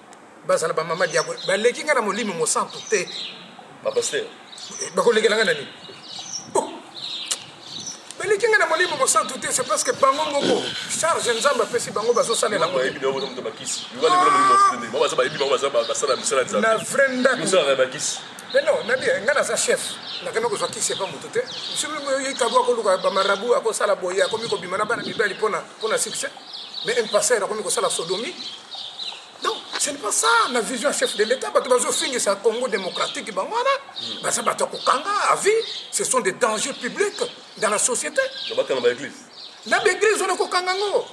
bazala ba mama diago baleki nga na molimo mosantu te ba pasteur eh, bakolekela nga na nini oh! baleki nga na molimo mosantu te c'est parce que bango moko charge nzambe apesi bango bazosalela na vrai ndako mais non nabi ngai naza chef nakenda kozwa kisi epa moto te soki kabo akoluka bamarabu akosala boye akomi kobima na bana mibali mpona succès mais un pasteur akomi kosala sodomie donc ce n'est pas ça na vision ya chef de l'état bato bazofingisa congo démocratique bango wana baza bato ya kokanga à vie ce sont des dangers publics dans la société bakanga ba église na baeglise wana kokanga ngo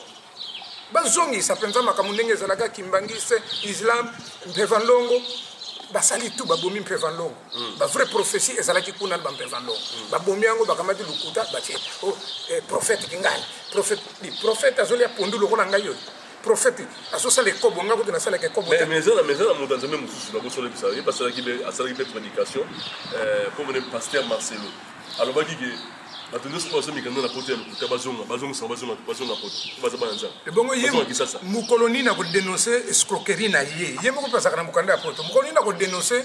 bazongisa mpenza makambo ndenge ezalaka kimbangiste islam mpeva nlongo basali tu babomi mpeva nlongo hmm. bavrai prophétie ezalaki kuna na bampeva nlongo hmm. babomi yango bakamati lokuta batie oh, eh, prophète kingani prophète Bi prophète azolia pondu lokola ngai oyo. Prophète azosala ekobo ngai kutu nasalaka ekobo te. Mais eza na mais eza na moto nzambe mosusu na bosola bisa ye basalaki be asalaki be prédication euh comme le pasteur Marcelo alobaki que bato nyonso oyo bazomika nde na poto ya lokuta bazonga bazongisa bazonga bazonga poto baza bana nzambe ebongo ye mokolo nini akodenonse escroquerie na ye ye moko mpe azalaka na mokanda ya poto mokolo nini akodenonse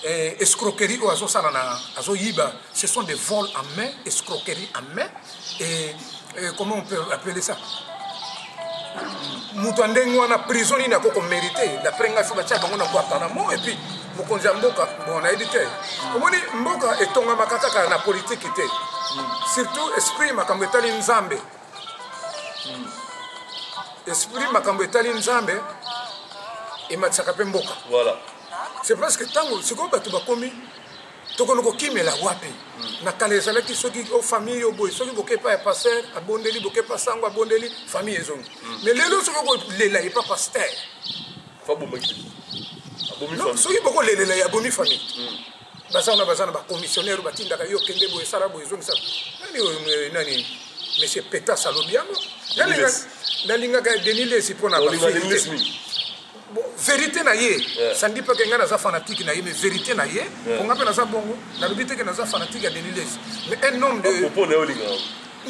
Eh, escroquerie oyo azosala na azoyiba ce sont des vols en main escroquerie en main et, et comment on peut appeler ça moto ya ndenge wana prison nini ako komérite d'après ngai fo batya bango na guantanamo et puis mokonzi ya mboka bon nayebi te omoni mboka etongamaka kaka na politiki te surtout esprit makambo etali nzambe esprit makambo etali nzambe ematisaka mpe mboka voilà. c'est parce que ntango sikoyo bato bakomi tokono kokimela wapi hmm. na kala ezalaki soki o famille yo boye soki boke epa ya paster abondeli boke epa sango abondeli famille ezongi hmm. mais lelo soki okolela epa paster soki bokolelela ya bomi famille hmm. baza wana baza na bacommissionnaire batindaka yo kende boye esala boye ezongisa nani oyo nani monsieur petas alobi yango nalingaka ya denis lesi mpo na verité na ye sandi mpe ke ngai naza fanatike na ye mais verité na ye mpo ngai mpe naza bongo nalobi teke naza fanatike ya denis lesi mais un homme de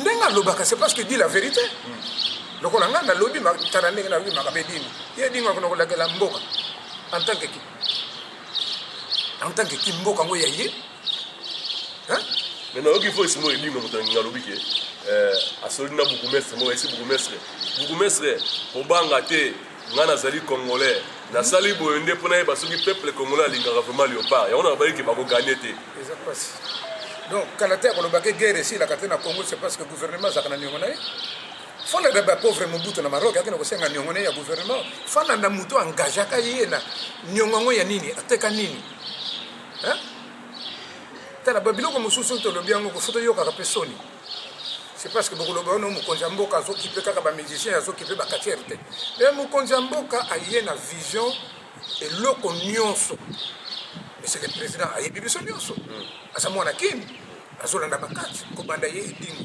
ndenge alobaka c'est parce que dit la vérité hmm. lokola ngai nalobi tala ndenge nalobi makabe dini ye dingo akona kolakela mboka en tant que ki en tant que ki mboka ngo ya ye hein mais na yoki voice mo ebinga moto nginga lobi ke euh asoli na bourgmestre mo esi bourgmestre bourgmestre obanga te nga nazali congolais nasali boye nde mpo nayeba soki peuple congolais alingaka vraiment léopard yango na babaliki bakoganye te eza mpasi donc kala te akolobaki guerre esilaka te na congo c'est parce que gouvernement azalaka na niongo na ye Fana da ba pauvre Mobutu na Maroc akenda kosenga niongo ne ya gouvernement. Fana na mutu engagaka ye na niongo ya nini ateka nini hein? Tala ba biloko mosusu tolobi yango kofuta yokaka mpe soni c'est parce que bokoloba ono mokonzi ya mboka azokipe kaka bamusicien azokipe bakatiere te e mokonzi ya mboka aye na vision eloko nyonso eseke président ayebi biso nyonso hmm. aza mwana kini azolanda bakati kobanda ye edingo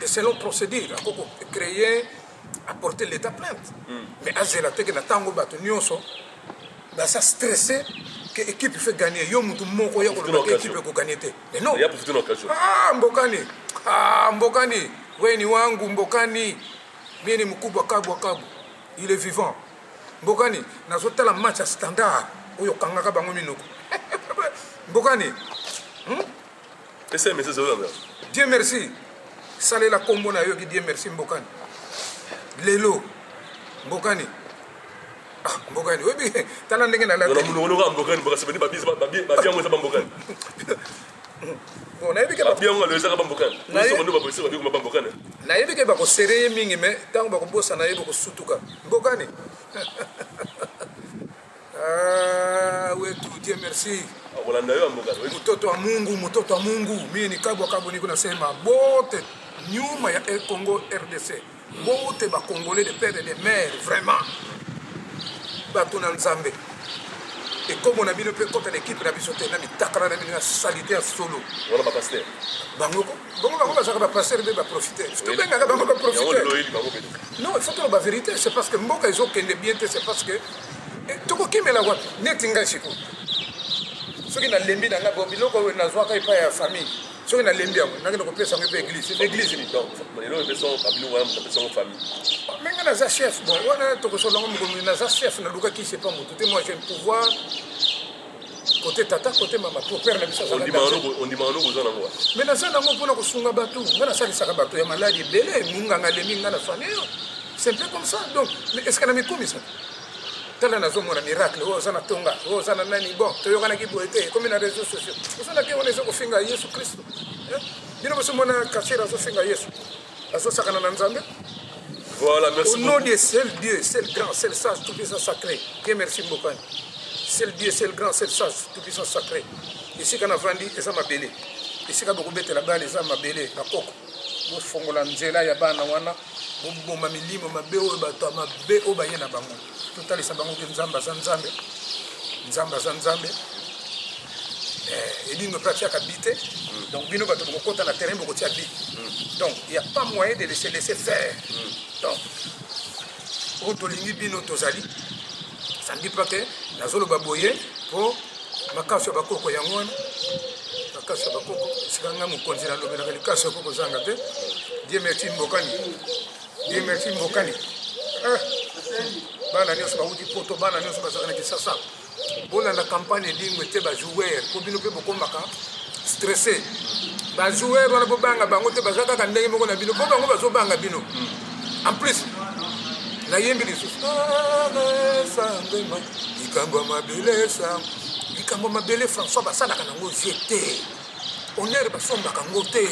Et selon procédure, ako ko créer apporter l'état plainte. Mm. Mais azela te que na tango bato nyonso ba sa stressé que équipe fait gagner yo mutu moko ya ko loba équipe ko gagner te. Mais non. Ya pour toute occasion. Ah mbokani. Ah mbokani. Weni wangu mbokani. Mimi mkubwa kabwa kabwa. Il est vivant. Mbokani nazotala match ya standard oyo kangaka bango minoko. Mbokani. Hmm? Ese mese zo yanga. Dieu merci. Salela kombo na yo ki Dieu merci mbokani. Lelo mbokani. Ah, mbokani oyebi tala ndenge na lati. Munoko loka mbokani boka sebeni babizi babi babi yango eza mbokani. Bon, nayebi ke babi yango alo ezaka mbokani. Na yo ndo babosi babi kuma mbokani. Nayebi ke bako sereye mingi mais tango bako bosa na ye boko sutuka. Mbokani. Ah, wetu Dieu merci. Akolanda yo mboka. Mtoto wa Mungu, mtoto wa Mungu. Mimi ni kabwa kabwa niko nasema bote nyuma ya El Congo RDC. Bote ba Congolais de père et de mère vraiment. Bato na Nzambe. ekomo na bino mpe ekota na ekipe na biso te na mitakala na bino ya salite ya solo bango ko bongo bango bazalaka bapastere mpe baprofiter tobengaka bango baprofiter non il faut toloba vérité c'est parce que mboka ezokende bien te c'est parce que eh, tokokimela wapi neti ngai siko soki nalembi na ngai bo biloko oyo nazwaka epai ya famille soki nalembi yango nakende kopesa yango mpe église église nini me ngai naza chef bon wana tokosolola yango mokolo naza chef nalukaki sepa motu te moi j'ai pouvoir kote tata kote mama po père na biso azondimaka noko oza nango me naza nango mpona kosunga bato nga nasalisaka bato ya maladi ebele monganga alemi nga na famille yo c'est un peu comme ça donc est ce que na mikumisa tala nazomona miracle oyo oza na tonga oyo oza na nani bon toyokanaki boye te ekomi na réseau sociaux oza na ke wana eza kofinga yesu kristo bino bosomona kacher azofinga yesu azosakana na nzambe Voilà, merci Au nom de seul Dieu, seul grand, seul sage, tout puissant sacré. Dieu merci beaucoup. Seul Dieu, seul grand, seul sage, tout puissant sacré. Ici kana vandi eza mabele. Ici ka boko betela bana eza mabele na koko. Bofongola nzela ya bana wana, boboma milimo mabe oyo bato ya mabe oyo baye na bango. totalisa bango ke nzambe aza nzambe nzambe aza nzambe eh, ebindo mpe atiaka bi te mm. donc bino bato bokokota na terrain bokotia bi mm. donc ya pas moyen de laisser laisser faire mm. donc oyo tolingi bino tozali sandi mpa ke nazoloba boye mpo makasi ya bakoko yango wana makasi ya bakoko esika ngai mokonzi nalobelaka likasi ya koko ozanga te dieu merci mbokani Dieu merci Mbokani. Eh, bana nyonso bawuti poto, bana nyonso bazalaka na Kisasa. Bolanda campagne edingwe te ba joueur, po bino mpe bokomaka stressé. Ba joueur wana bobanga bango te, baza kaka ndenge moko na bino, po bango bazobanga bino. En plus, nayembi lisusu sangema likambo ya mabele sang likambo ya mabele françois basalaka nango vie te Honneur basombaka ngo te,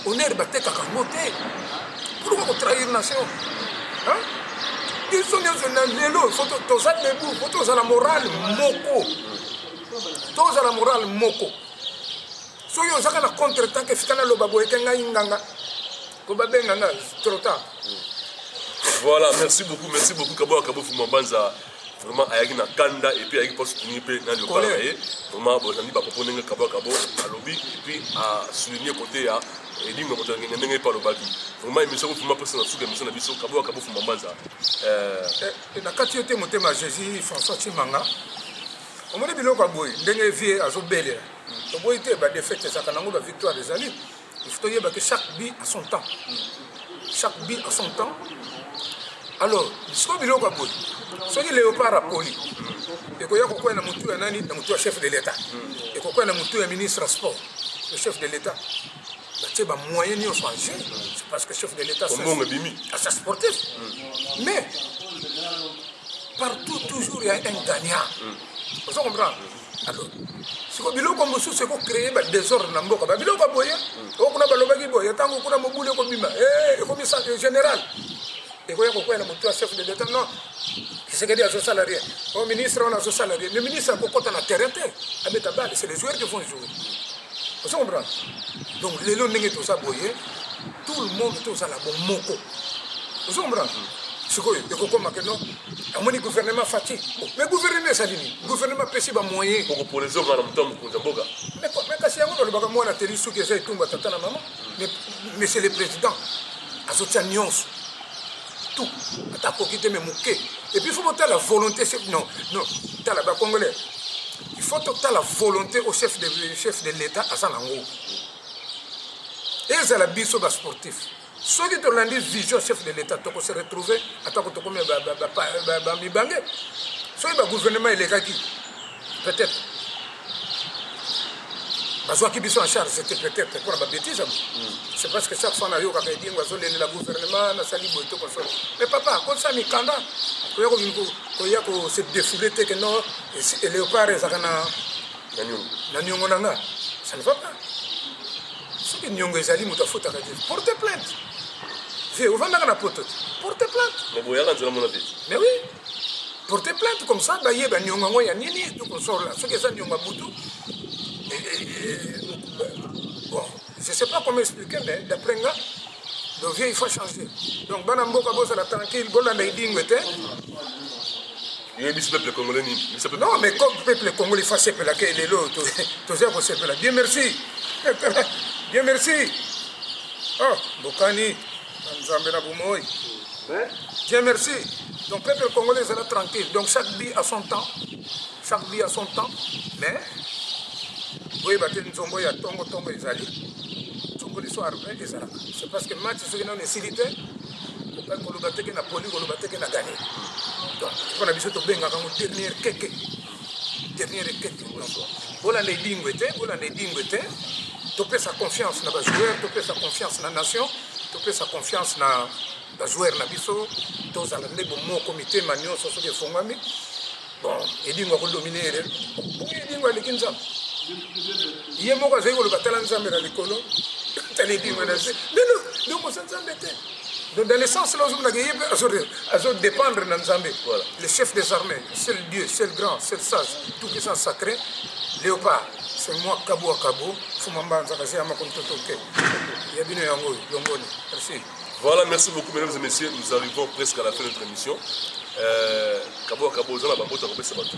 honneur batekaka ngo te. Pourquoi ko trahir nation? Hein? Biso nyonso na lelo foto toza debout, foto toza na morale moko. Toza na morale moko. Soki ozaka na contre temps ke fika na loba boye ke ngai nganga. Ko babenga nga trop tard. Voilà, merci beaucoup, merci beaucoup Kabo Kabo Fumambanza. vraiment ayaki na kanda epuis ayaki mpo soutenir mpe na liokala na ye vraiment bozali bapopo ndenge kabo kabo alobi epuis asouligne kote ya elimo ya moto ya ngenge ndenge mpe alobaki vraiment émission kofuma mposa na suka émission na biso kabo kabo fuma mbanza eh, eh, na kati yo te motema jésus françois cimanga omoni biloko ya boye ndenge vie azobelela toboyi te badefete ezalaka nango bavictoire ezali il faut toyeba que chaque but a son temps chaque but a son temps alors sikoyo biloko ya boye soki léopard apoli ekoya kokwea na motu ya nani na motu ya chef de l'état ekokwea na motu ya ministre ya sport le chef de l'état batie bamoyen nyonso en jeu c'est parce que chef de l'état asa sportif mais partout toujours ya un gagnant ozo comprendre alors siko biloko mosusu eko créer ba désordre na mboka ba biloko boye oyo kuna balobaki boye ntango kuna mobulu ekobima eh, ekomi général ekoya kokwela motu ya chef de l'état non kisekedi azosala rien o oh, ministre wana azosala rien le ministre akokɔta na terrain te abeta bale c'est les joueurs qui vont jouer ozo comprendre donc lelo ndenge toza boye tout le monde tozala bomoko ozo comprendre sikoyo ekokoma ke non amoni gouvernement fati mais gouvernement ezali nini gouvernement apesi bamoyen kokopona ezoka na moto ya mokonzi ya mboka kasi yango nalobaka mwana teli soki eza etumba tata na mama monsieur le président azotya nyonso tout ata akoki te me moke epuis fo botala volonté non non tala bacongolais il faut totala volonté au chef de, chef de l'état aza nango ezala biso basportif soki tolandi vision chef de l'etat toko se retrouver atako tokomi bamibange soki bagouvernement elekaki peut-être bazwaki biso en charge c'était peut-être mpona babétise yango hmm. c'est parce que chaque fois nayokaka edingo azolelela gouvernement nasali boye to konsolo mais papa akotisa mikanda koya koya kose défoule te ke non léopard ezalaka na niongo na nga ça ne va pas soki niongo ezali moto afotaka te porte plainte vie ovandaka na poto te porte plainte naboyaka nzela mona te mais oui porte plainte comme ça bayeba niongo yango ya nini tokosola soki eza niongo ya butu bon je sais pas comment expliquer mais d'après nga donc vie il faut changer donc bana mboka bozala tranquille bolanda edingwe te oyebisi peuple congolais nini non mais comme peuple congolais fa sepela ke lelo toza kosepela dieu merci dieu merci oh bokani na nzambe na bomoi dieu merci donc peuple congolais ezala tranquille donc chaque bi à son temps chaque bi à son temps mais boyeba te nzombo ya tongo tongo ezali nzombo liso arbe ezalaka c'est parce que match soki nano esili te koloba teke na poli koloba teke na gane donc mpo na biso tobengaka yango dernier keke dernier keke bolanda edingwe te bolanda edingwe te topesa confiance na bajoueur topesa confiance na nation topesa confiance na bajoueur na biso tozala nde bomoko mitema nyonso soki efongwami bon edingo akodomine ere edingo aleki nzambe ye moko azali koloba tala nzambe na likolo tala edingo na se lelo lokosa nzambe te donc dans le sens là ozomonaka ye mpe azodépendre na nzambe le chef des armées seul dieu seul grand seul sage tout puissant sacré léopard c'est moi kabo akabo fuma mbanza kasi ya makontoto te ya bino yango oyo longoni merci Voilà, merci beaucoup, mesdames et messieurs. Nous arrivons presque à la fin de notre émission. Euh, kabo kabo oza na bambote akopesa bato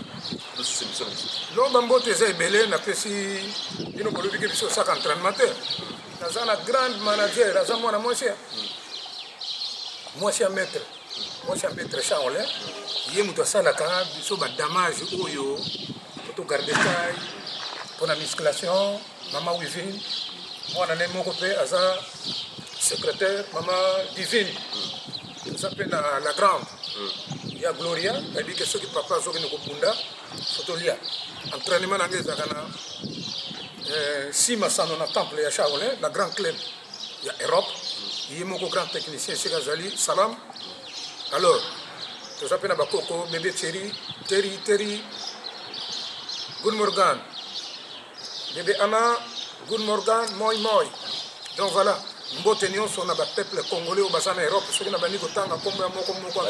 tosusu émission na biso lo bambote eza ebele napesi bino bolobiki biso osaka entraînement te naza na grande manager aza mwana mwasi ya mwasi ya maître mwasi ya maître charlin ye moto asalaka biso badamage oyo totogarde tai mpo na musculation Mama Wivine, mwana ne moko mpe aza secrétaire mama Divine aza mpe na la grande ya Gloria ayebi ke soki papa azokende kobunda fotolia entraînement na ngai ezalaka na eh, nsima sano na temple ya Shaolin na grand club ya Europe ye moko grand technicien esika azali salam alors toza mpe na bakoko bebe teri teri teri good morgan Bebe Ama, Good Morgan, Moi Moi. Donc voilà, mbote nyonso na bapeuple congolais oyo baza na europe soki nabandi kotanga nkombo ya moko moko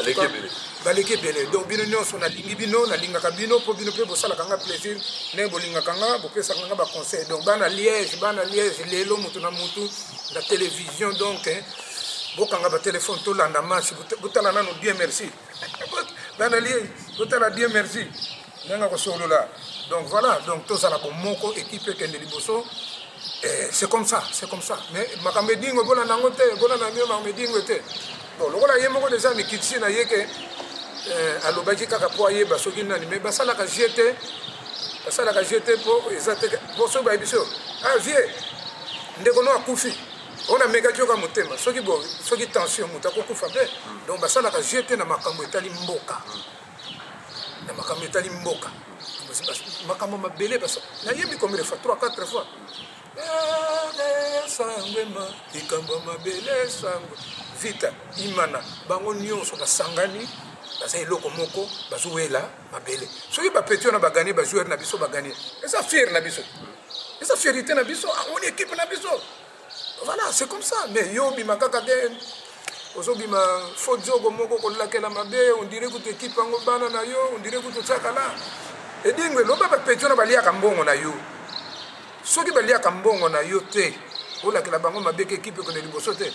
baleki ebele donc bino nyonso nalingi bino nalingaka bino mpo bino mpe bosalaka nga plaisir ndenge bolingaka nga bopesaka nga baconseil donc bana liège bana liège lelo motu na motu na télévision donc bokanga batelefone tolanda match botala nano bien merci nana lie totala bien merci ndenge akosolola donc voilà donc tozala bomoko ekipe ekende liboso eh, c'est comme ça c'est comme ça mais makambo edingo ebolanda yango te ebolanda mio makambo edingo te bon lokola ye moko deja mikitisi na ye ke eh, alobaki kaka mpo ayeba soki nani mais basalaka jeu te basalaka jeu te mpo eza te mpo soki bayebi so ah vie ndeko no akufi ona mekaki yoka motema soki bo soki tension moto akokufa mpe donc basalaka jeu te na makambo etali mboka na makambo etali mboka makambo mabele basa nayebi combien de fois 3 4 fois sangwema likambo ya mabele sangwe vita imana bango nyonso basangani baza eloko moko bazowela mabele soki ba petit wana ba gagner ba joueur na biso ba gagner eza fier na biso eza fierité na biso ah, on équipe na biso voilà c'est comme ça mais yo bima kaka te ozobima fo diogo moko kolakela mabe ondire kutu ekipe yango bana na yo ondire kutu otiaka la edingo eloba bapeti wana baliaka mbongo na yo soki baliaka mbongo na yo te olakela bango mabe ke ekipe ekende liboso te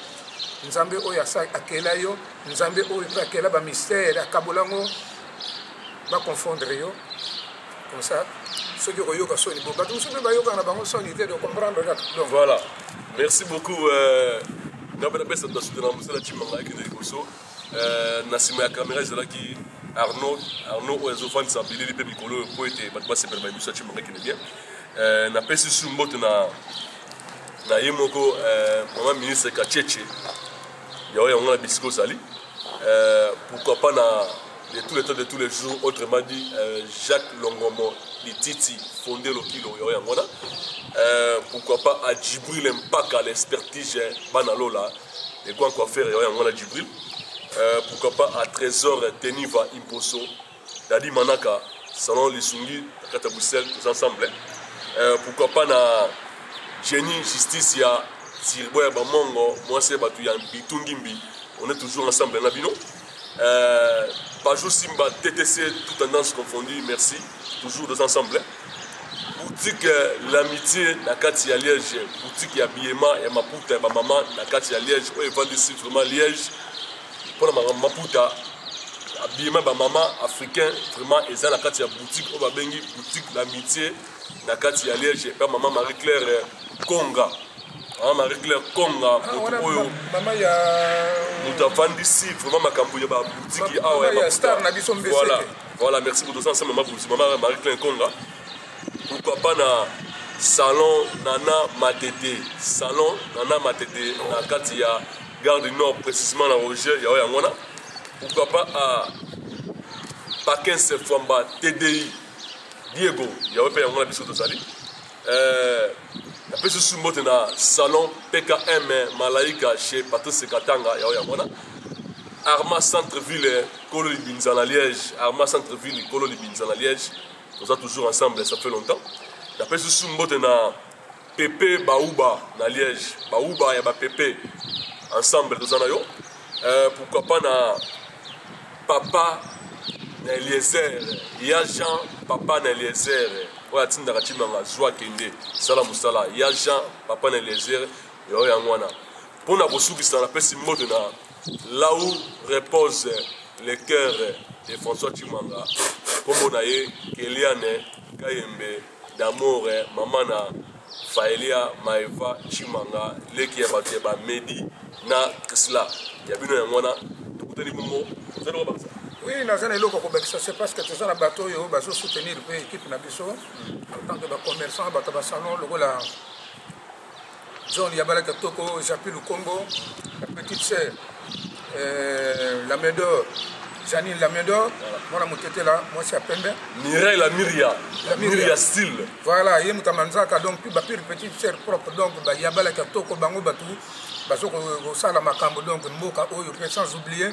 nzambe oyo akela yo nzambe oyo mpe akela bamistere akabola yango ba confondre yo comme ça soki okoyoka soni bo bato mosusu mpe bayokaka na bango soni te de comprendre kaka donc voilà merci beaucoup euh, ngai mpe napesa bato basute na mosala cima ngai kende liboso euh, na nsima ya kamera ezalaki arnaud arnaud oyo azofandisa bilili mpe mikolo oyo mpo ete bato basepela bayebiso ya cima ngai kende bien euh, napesi su mbote na na ye moko mama ministre kacheche Yao yango na bisika ozali euh, pourquoi pas na de tous les temps de tous les jours autrement dit euh, Jacques Longomo Lititi fondé Lokilo yao yango na euh, pourquoi pas à Djibril Mpaka l'expertise hein, bana lola et quoi quoi faire yao yango na Djibril euh, pourquoi pas à Trésor Teniva Imposo Daddy Manaka, Salon Lisungi, na kati ya Bruxelles, tous ensemble. Euh, pourquoi pas na Jenny Justice ya Sirbo ya Bamongo, moi c'est Batu ya Bitungimbi. On est toujours ensemble, na bino. Euh, Pajou Simba, TTC, tout tendance confondue, merci. Toujours tous ensemble. Boutique euh, L'Amitié, na kati ya Liège. Boutique ya Biema, ya Maputa, ya Bamama, na kati ya Liège. Oyo evandi si vraiment Liège. mpo na makambo maputa abima bamama africain vraiment eza na kati ya boutique oyo babengi boutique l'amitié na kati ya liège epa mama marie claire eh, konga mama marie claire konga ah, moto oyo moto afandisi vraiment makambo ya baboutiki awa ya bakuta voilà merci moto oza nsema mabuti mama marie claire konga pourquoi pas na salon nana matete salon nana matete na kati ya Gare du Nord, précisément na Roger, yao yango wana. Pourquoi pas à Bakens Fwamba, TDI, Diego, yao pe yango wana biso tozali. Euh, napesi susu mbote na salon pkm malaika chez patrice katanga yao yango wana arma centre ville kolo libinza na liège arma centre ville kolo libinza na liège toza toujours ensemble ça fait longtemps napesi susu mbote na Pepe Bauba na Liège, Bauba ya ba Pepe ensemble toza na yo. Euh, pourquoi pas na papa na Eliezer, ya Jean papa na Eliezer oyo atindaka Chimanga zwa kende sala mosala ya Jean papa na Eliezer yo yango wana mpo na kosukisa napesi mbote na là où repose le cœur de François Chimanga nkombo na ye Keliane Kayembe d'amour eh, maman na Faelia Maeva Chimanga leki ya bato ya ba Medi na Krisla ya bino yango wana tokutani bongo ozali kobakisa oui naza na eloko kobakisa c'est parce que toza na bato oyo bazo soutenir mpe équipe na biso en tant que bacommerçant bato ya basalon lokola John Yabala Katoko, Japi Lukongo, la petite sœur, euh, la main d'or, Janine la main d'or, mwana motete la mwasi ya pembe. Mireille la Miria, la Miria style. Voilà, ye moto manzaka donc ba pire petite sœur propre donc ba Yabala Katoko bango batu bazo kosala makambo donc mboka oyo pe sans oublier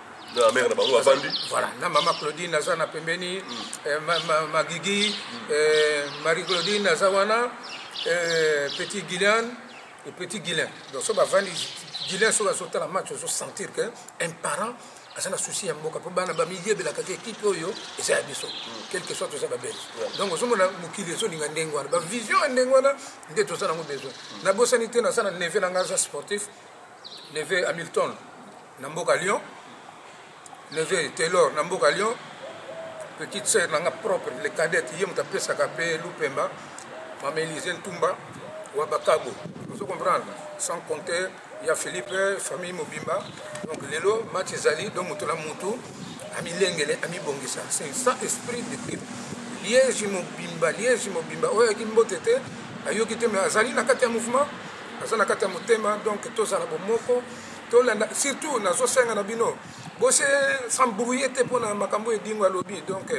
na mère na bango bavandi voilà na mama claudine aza na pembeni mm. eh, ma, ma, magigi mm. eh, marie claudine aza wana eh, petit guilian et petit guilin donc so bavandi guilin soki azotala match ozo sentir que un parent aza na souci ya mboka mpo bana bamiyebelaka te ekipe oyo eza ya biso mm. quelque soit toza babele donc ozomona mokili ezolinga ndenge wana bavision ya ndenge wana nde toza nango besoin mm. nabosani te naza na neve na ngai aza sportif neve hamilton na mboka Lyon neveu Taylor na mboka Lyon petite sœur na nga propre le cadette ye moto apesaka mpe Lupemba mama Elise Ntumba wa Bakabo ozo comprendre sans compter ya Philippe famille mobimba donc lelo match ezali donc moto na motu amilengele amibongisa c'est ça esprit d'équipe liège mobimba liège mobimba oyo ayaki mbote te ayoki te mais azali na kati ya mouvement aza na kati ya motema donc tozala bomoko tolanda surtout nazosenga na bino bose s'embrouiller te mpo na makambo oyo edingo alobi donc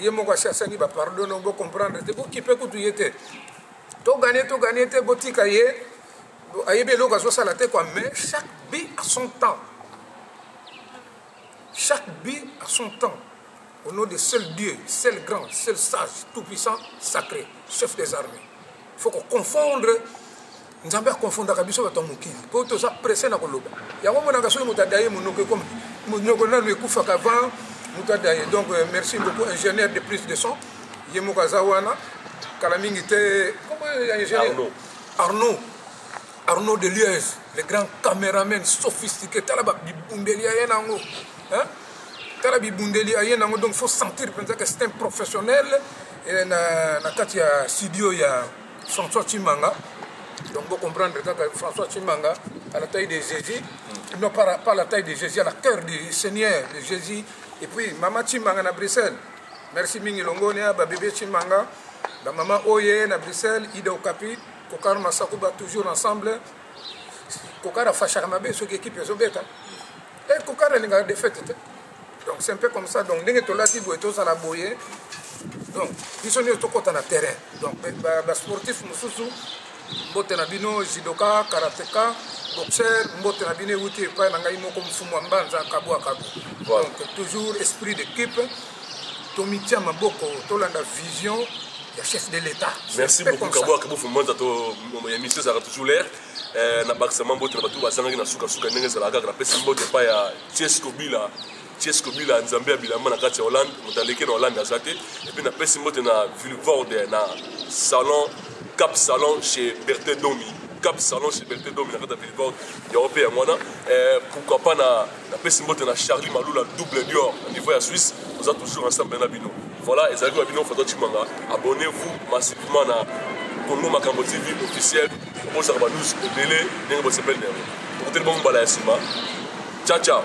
ye moko asi asengi bapardon donc bocomprendre te bokipe kutu ye te togane togane te botika ye ayebi eloko azosala te kua mais chaque bi à son temps chaque bi à son temps Au nom de seul Dieu, seul grand, seul sage, tout puissant, sacré, chef des armées. Il faut qu'on confondre nzambe akonfondaka biso bato ya mokili mpo toza presse na koloba yango monaka soki moto adaye monoko ekomi monoko nano ekufaka avant moto adaye donc euh, merci beaucoup ingénieur de plus de son ye moko aza wana kala mingi te ingénieur arnaud Arnaud Deliez, le grand cameraman sophistiqué, tala ba bibundeli ya ye nango. Hein? Tala bibundeli ya ye nango donc faut sentir penza que c'est un professionnel eh, na na kati ya studio ya François Chimanga. Donc vous comprenez kaka François Chimanga à la taille de Jésus, mm. non pas, pas la taille de Jésus, à la cœur du Seigneur de Jésus. Et puis Mama Chimanga na Bruxelles. Merci mingi Longonia, ba bébé Chimanga, la maman Oye na Bruxelles, Ida Okapi. kokar na sako ba toujours ensemble kokar afashaka mabe soki ekipe ezobeta e eh, kokar alingaka defete te donc c'est un peu comme ça donc ndenge tolati boye tozala boye donc biso nioso tokɔta na terrain donc basportif mosusu mbote na bino jidoka karateka boxer mbote na bino ewuti epai na ngai moko mfumu ya mbanza kabwa kabu donc toujours esprit d'équipe tomitia maboko tolanda vision ya chef de l'état merci beaucoup kabwa kabufu mwanza to émission ezalaka toujours l'air eh, na bakisa mwa mbote na bato bazangaki na sukasuka ndenge ezalaka kaka napesi mbote epai ya tiesco bila tiesco bila nzambe ya bilamba na kati ya hollande moto aleki na hollande aza te epuis napesi mbote na vilvorde na salon cap salon chez bertin domi cap salon chez bertin domi na kati ya vilvorde yango mpe yango wana eh, pourquoi pas na Napesi mbote na Charlie Malula double Dior na niveau ya Suisse, oza toujours ensemble na bino. Voilà, ezalaki na bino Fatwa Chimanga. Abonnez-vous massivement na Congo Makambo TV officiel. Bozaka ba news ebele ndenge bosepeli na yango. Tokutani bongo mbala ya nsima. Ciao ciao.